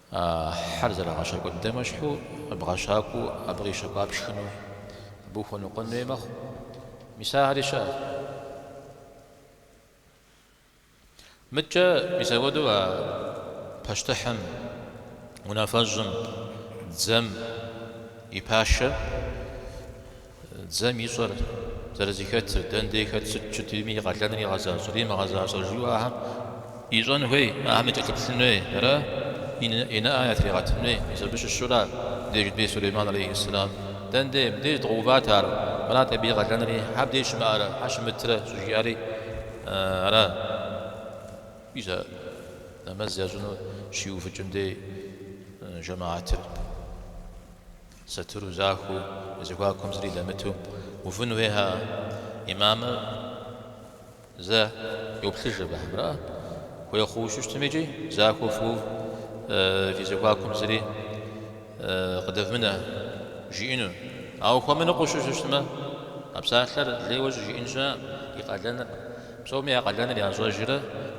А хьэр зэрагъэщакӏуэ дыдэм ещхьу къыбгъэщакӏуэу абы къищэкӏуар пшхыну абы ухуэныкъуэн хуей мэхъу. Мис ахэри щыӏэт. Мыдкӏэ мис апхуэдэу а пащтыхьым, унафэщӏым, дзэм и пашэм Дзэм ищӏэр, зэрызыхэтыр, дэндей хэт сыт щытми, и къалэныр игъэзащӏэрэ имыгъэзащӏэрэ жиӏэу ахэм ищӏэн хуей, ахэм якӏэлъыплъын хуейрэ и нэӏэ ятригъэтын хуей, мис абы щыщура деж бей Сулейман алейхи ссэлам. Дэндей мыбдеж дгъэуват ар, мырат абы и къалэнри, хьэ абдеж щымыӏэрэ, хьэ щымытрэ щӏыжиӏэри ара? Ӏуи зэ, нэмэз ящӏыну щиувыкӏын дей жэмаатыр. Сатыру захуэу, я зэхуакуэм зыри дэмыту увын хуейкъэ? Имамыр зэ йоплъыж абыхэм, ара? Хуей хъууэ щыщытым икӏи, захуэу фыув, фи зэхуакуэм зыри къыдэвмынэ, жиӏэну. Ауэ хуэмыныкъуэу щыщытмэ, а псалъэр лейуэ щӏыжиӏэн щыӏэкъым, и къалэныр. Псоми я къалэныр ящӏэжрэ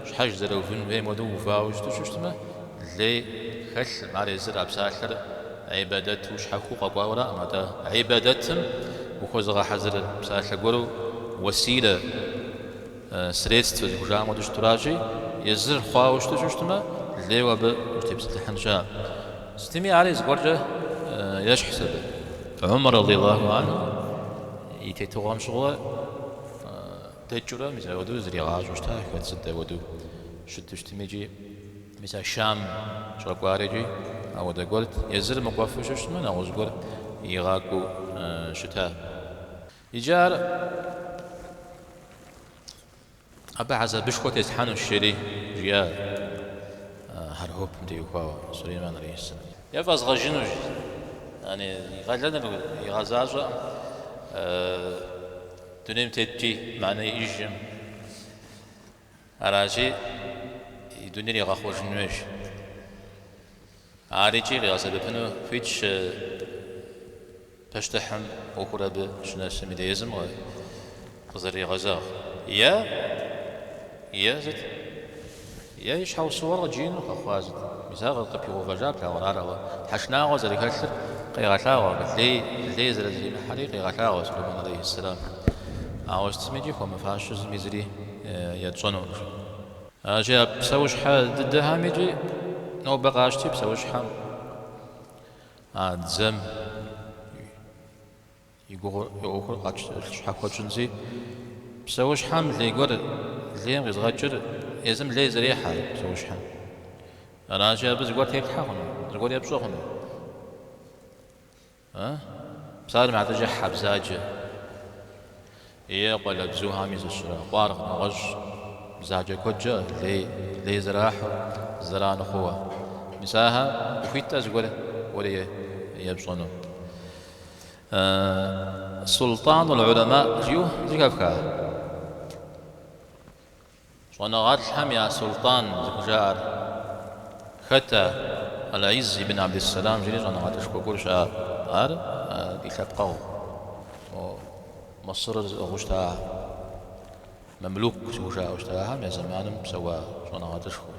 щхьэж зэрыувын хуейм хуэдэу увауэ щыту щыщытмэ, лей хэлъым, ар езыр а псалъэр гӏибадэту щхьэхуэу къэкӏуауэраӏым, атӏэ гӏибадэтым ухуэзыгъэхьэзыр псалъэ гуэру уэсилэ, средствэ зыхужаӏэм хуэдэу щытуращи, езыр хъуауэ щыту щыщытмэ, лейуэ абы ущытепсэлъыхьын щыӏэкъым. Сытми ари зыгуэркӏэ ещхьщ абы. Умар радиаллаху анху и тетыгъуэм щыгъуэ. Дэкӏыурэ мис апхуэдэу зригъащӏэу щыта, хэт сыт хуэдэу щыту щытми икӏи. Мис а Шам щӏэкӏуари икӏи апхуэдэ гуэрт. Езыр мыкӏуэфу щыщытмэ, нэгъуэщӏ гуэр игъакӏуэу щыта. Иджы ар абы хьэзабышхуэ теслъхьэнущ, жери, жиӏа хьэрхьупым теухуауэ Сулейман алейхьэсэлам. Е фӏэзгъэжыну, жи. Ани, и къалэныр игъэзащӏэкъым. Дунейм теткӏи мэхьэнэ иӏэжӏым аращи, и дунейр иригъэхъуэжын хуейщ. Ар икӏи къигъэсэбэпыну хуитщ пащтыхьым ӏуэхур абы щынэсым дей, езым къызэрыригъэзэгъ е е сыт? Е и щхьэусыгъуэр къыджиӏэну къэхъуа зы мисал къыпигъэувэжа плъагъурэ ар, ауэ, тхьэшынагъуэ зэрыхэлъыр къегъэлъагъуэ, лей, лей зэрызэримыхьэри къегъэлъагъуэ Сулейман алейхьэссэлам. Ауэ сытми икӏи хуэмыфащэу зыми зыри етщӏэнукъым. Аращи, а псэущхьэ дыдэхэм икӏи нобэ къащти псэущхьэм а дзэм И гугъу и ӏуэхур щхьэхуэ тщӏынщи, псэущхьэм лей гуэр лейм къизгъэкӏыр езым лей зэрехьэ псэущхьэм. Аращи, абы зыгуэр теплъхьэ хъуну, зыгуэр епщӏэ хъуну. Псалъэм щхьэкӏэ, хьэ бзаджэ. Е къуалэбзухэми щыщу къуаргъ, нэгъуэщӏ, бзаджэ куэдкӏэ лей, лей зэрахьэу, зэран хъууэ. Мис ахэр ухуиткъэ зыгуэр уэри епщӏэну. Султӏанул гьулэмаӏ жиӏэу зэхэфха? Щӏэныгъэлӏхэм я султӏан зыхужаӏэр хэт а? Аль-Из ибн Абдис-Салам жери щӏэныгъэлӏышхуэ гуэр щыӏащ. Ар ди лъэпкъэгъу Мысырыр зыӏыгъыу щыта а мамлюк зыхужаӏэу щытахэм я зэманым псэуа щӏэныгъэлӏышхуэу.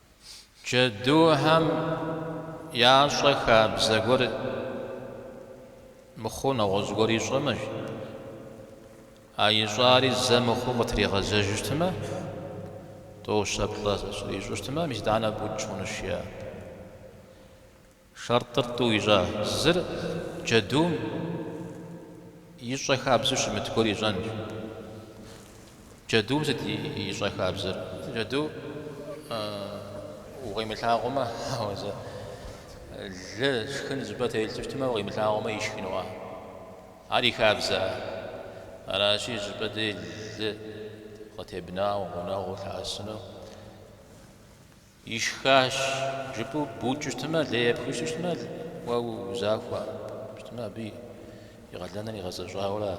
Джэдухэм ящӏэ хабзэ гуэр мыхъуу нэгъуэщӏ гуэр ищӏэмэщ. А ищӏари зэ мыхъуу къытригъэзэж щытмэ, тӏощэплӏэ ар ищӏэ щытмэ, мис итӏанэ букӏ хъунущ, жаӏэ. Шэртӏыр тӏу ищӏа? Зыр джэдум ищӏэ хабзэу щымыт гуэр ищӏэнщ. Джэдум сыт ищӏэ хабзэр? Джэдум укъимылъагъумэ, ауэ зэ лы шхын зыщӏыпӏэ телъу щытмэ, укъимылъагъумэ ишхынуа? Ар и хабзэа? Аращи, зыщӏыпӏэ дей лы къытебнауэ, гъунэгъуу лъэӏэсыну Ишхащ, жыпӏэу букӏ щытмэ, лей епхыу щытмэ, уэ узахуэ щытмэ, абы и къалэныр игъэзэщӏауэра,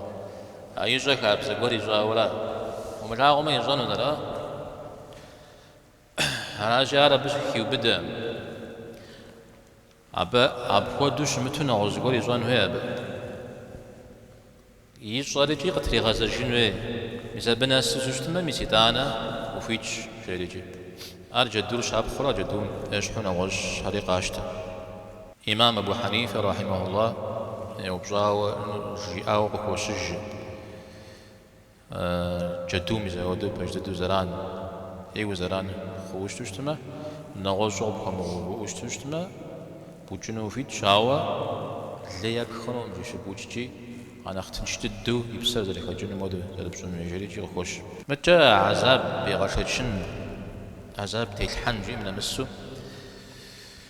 а ищӏэ хабзэ гуэр ищӏауэра? Умылъагъумэ, ищӏэнут, ара? Аращи, ар абы щыхиубыдэ. Абы апхуэдэу щымыту нэгъуэщӏ зыгуэр ищӏэн хуей абы. Ищӏэр икӏи къытригъэзэжын хуей. Мис абы нэсу щытмэ, мис итӏанэ ухуитщ, жери икӏи. Ар джэдур щапхъэурэ джэдум ещхьу нэгъуэщӏ хьэри къащтэ. Имам Абу Хьэнифэ рахьимэхулла еупщӏауэ жиӏауэ къыхощыж. Джэдуми зэхуэдэу пэж дыдэу зэран ӏейуэ зэран хъууэ щыту щытмэ, нэгъуэщӏу къыпхуэмыгъэувыӏэу щыту щытмэ, букӏыну ухуитщ, ауэ лей епх хъунукъым жи щыбукӏкӏи, а нэхъ тынш дыдэу и псэр зэрыхэкӏыным хуэдэу зэрыпщӏын хуей жери икӏи къыхощ. Мыкӏэ азаб егъэшэчын, азаб телъхьэн жиӏэм нэмысу,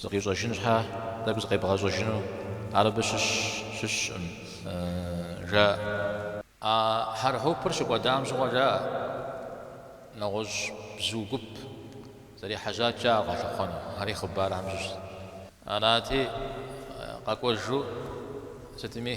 Зыкъищӏэжын щхьэ тӏэкӏу зыкъебгъэщӏэжыну ар абы щыщ щыщкъым, жаӏэ. А хьэрхьупыр щыкӏуэдам щыгъуэ жаӏэ нэгъуэщӏ бзу гуп зэрехьэжьат жаӏэ ар къалъыхъуэну, ари хъыбархэм щыщщ. Арати, къэкӏуэжу сытми.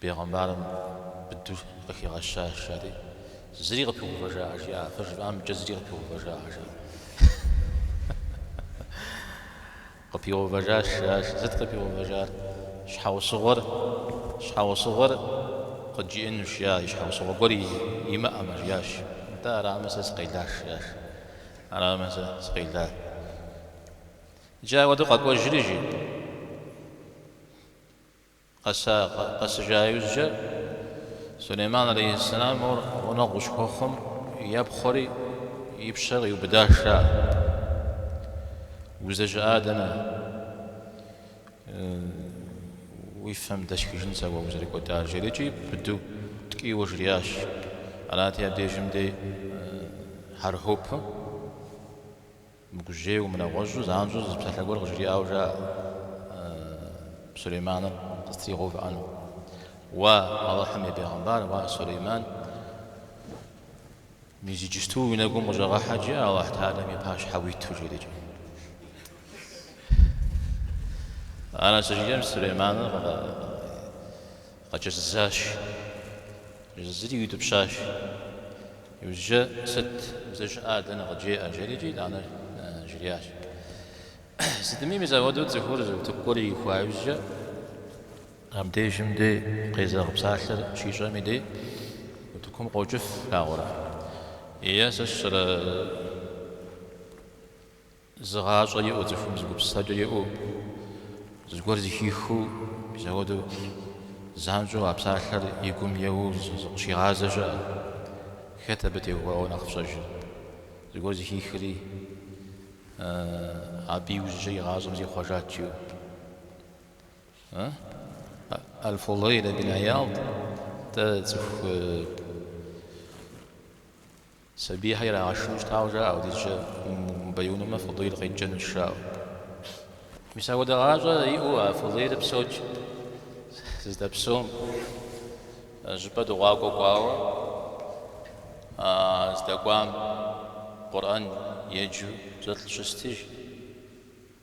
Бегъымбарым быдэу къыхигъэщащ, ари, Зыри къыпигъэувэжакъэ? жиӏа. Къыжыфӏам и кӏэ зыри къыпигъэувэжакъэ? жиӏа. Къыпигъэувэжащ, жиӏащ. Сыт къыпигъэувэжар? Щхьэусыгъуэр, щхьэусыгъуэр къыджиӏэнущ, жиӏа. И щхьэусыгъуэ гуэр имыӏэмэ, жиӏащ. Атӏэ, арамэ сэ сыкъелащ, жиӏащ. Арамэ сэ сыкъела. Иджы апхуэдэу къэкӏуэжри, жи. Къэсыжа иужькӏэ, Сулейман алейхьэссэлам мор гъунэгъу къыщыхуэхъум, епхъуэри и пщэр къиубыдащ жаӏэ. Уздэщыӏа дэнэ? Уи фэм дэсхыжын сэ уэ узэрыкӏуэдар, жери икӏи быдэу ткӏийуэ жриӏащ. Арати, абдежым дей хьэрхьупым. Мыгужьейуэ, мынэгъуэщӏу, занщӏэу зы псалъэ гуэр къыжриӏауэ жаӏэ Сулейманыр къызэтригъэувыӏэну. Уа, Алыхьым и бегъымбар, уа, Сулейман, мис иджысту уи нэгум къыщӏэгъэхьэт, жи, Алыхь Тэхьэлэм и пащхьэ уиту жедэкӏэ. Ар нэсыжыкӏэм Сулейманыр Къэкӏэзызащ. Кӏэзызри иутӏыпщащ. Иужькӏэ, Сыт, уздэщыӏа, дэнэ къыджеӏэ? жери икӏи итӏанэ жриӏащ. Сытми, мис апхуэдэу цӏыхур зы утыку гуэр ихуа иужькӏэ, абдежым дей къезэгъ псалъэр щищӏэм и дей утыкум къокӏыф, флъагъурэ? Е сэ сщӏэрэ? Зы гъащӏэ иӏэу цӏыхум зы гупсысэкӏэ иӏэу, зыгуэр зыхихыу, мис апхуэдэу занщӏэу а псалъэр и гум еуэу зыкъыщигъазэ щыӏэ. Хэт абы теухуауэ нэхъ фщӏэжыр? Зыгуэр зыхихри, абы иужькӏэ и гъащӏэм зихъуэжат жиӏэу. Аль-Фудайл ибн Ияд дэ цӏыху Сабийхэр ирагъэшынэу щытауэ жаӏэ апхуэдизкӏэ умыбэяунумэ Фудейл къикӏынущ жаӏэу. Мис апхуэдэ гъащӏэ иӏэу а Фудейл псэууэ здэпсэум щӏыпӏэ дыгъуакӏуэ кӏуауэ а здэкӏуам Къурӏэн еджэу зы лӏы щыст, жи.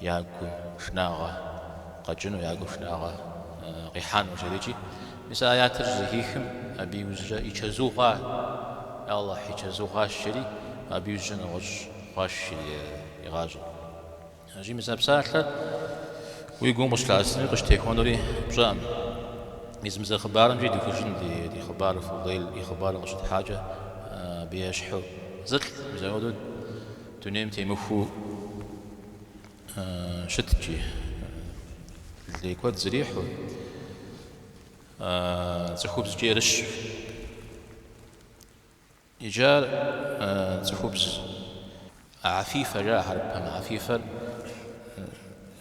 я гу шынагъэ къэкӏыну, я гу шынагъэ къихьэну жери-кӏи. Мис а аятыр щызэхихым, абы иужькӏэ и чэзу хъуа, Аллахь, и чэзу хъуащ жери, абы иужькӏэ нэгъуэщӏ хъуащ жери и гъащӏэр. Аращи мис а псалъэр уи гум къыщылъэӏэсынури къыщытехуэнури пщӏэкъым. Мис мы зы хъыбарымкӏи духыжын ди хъыбар Фудейл и хъыбарыр къыщытхьакӏэ, абы ещхьу зы лӏы, мис апхуэдэу Дунейм темыхуэу щыткӏи, лей куэд зрихьу, цӏыхубзкӏэ ерыщу. Иджы ар цӏыхубз Афифэ жаӏэ, хьэрыпым Афифэр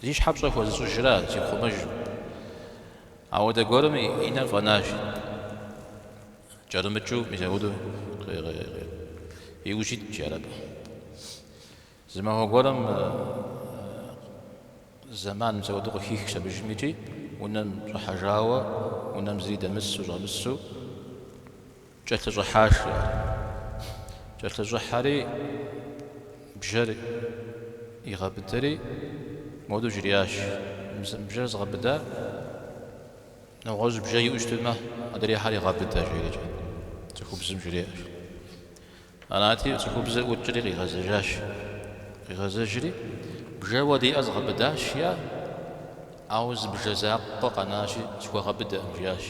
зи щхьэ пщӏэ хуэзыщӏыжра, зихъумэжым. Ауэдэ гуэрым и нэр фӏэнащ. Кӏэрымыкӏыу мис ауду и ужь итт, жаӏэр, абы. Зы махуэ гуэрым зэман мис ауду къыхихщ абы, жи, икӏи, унэм щӏыхьэжауэ, унэм зыри дэмысу, щӏэмысу, кӏэлъыщӏыхьащ, жаӏэр. Кӏэлъыщӏыхьэри, бжэр игъэбыдэри, моду жриӏащ, Мы бжэр згъэбыда, Нэгъуэщӏ бжэ иӏэу щытмэ, адрейхэри гъэбыдэ, жерикӏэ цӏыхубзым жриӏащ. Арати, цӏыхубзыр ӏукӏри къигъэзэжащ. Къигъэзэжри, бжэуэ диӏэр згъэбыдащ, жиӏар. Ауэ зы бжэ закъуэ къэнащи, схуэгъэбыдэкъым, жиӏащ.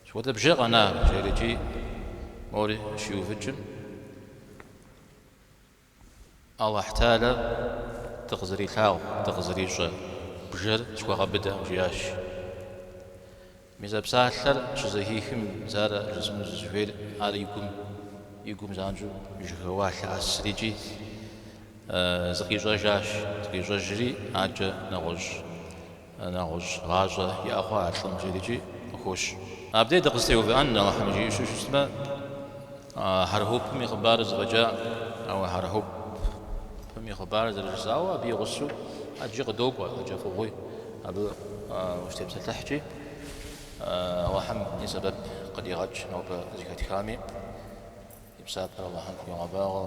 Сыт хуэдэ бжэ къэна? жерикӏи, мори щиувыкӏым. Алыхьталэм дыкъызэрилъагъу, дыкъызэрищӏэ бжэр схуэгъэбыдакъым, жиӏащ. Мис а псалъэр щызэхихым, Мис ар жысӏэну сызыхуейр, ар и гум, и гум занщӏэу жьэхэуа, лъэӏэсри икӏи зыкъищӏэжащ, зыкъищӏэжри, аджэ нэгъуэщӏ. Нэгъуэщӏ гъащӏэ иӏэ хъуа а лӏым жиӏэрикӏи къыхощ. Абдей дыкъызэтеувыӏэн, Алыхьым жиӏэу щытмэ, Хьэрхупым и хъыбарыр зэфӏэкӏа, ауэ Хьэрхупым и хъыбарыр зэрыжысӏауэ абы и гъусэу ӏэджи къыдокӏуэ, ӏэджэ фӏыгъуи абы ущытепсэлъыхькӏи, Алыхьым и сэбэп къыдигъэкӏ нобэ зэхэтхами, и псапэр Алыхьым хуигъэбагъуэ.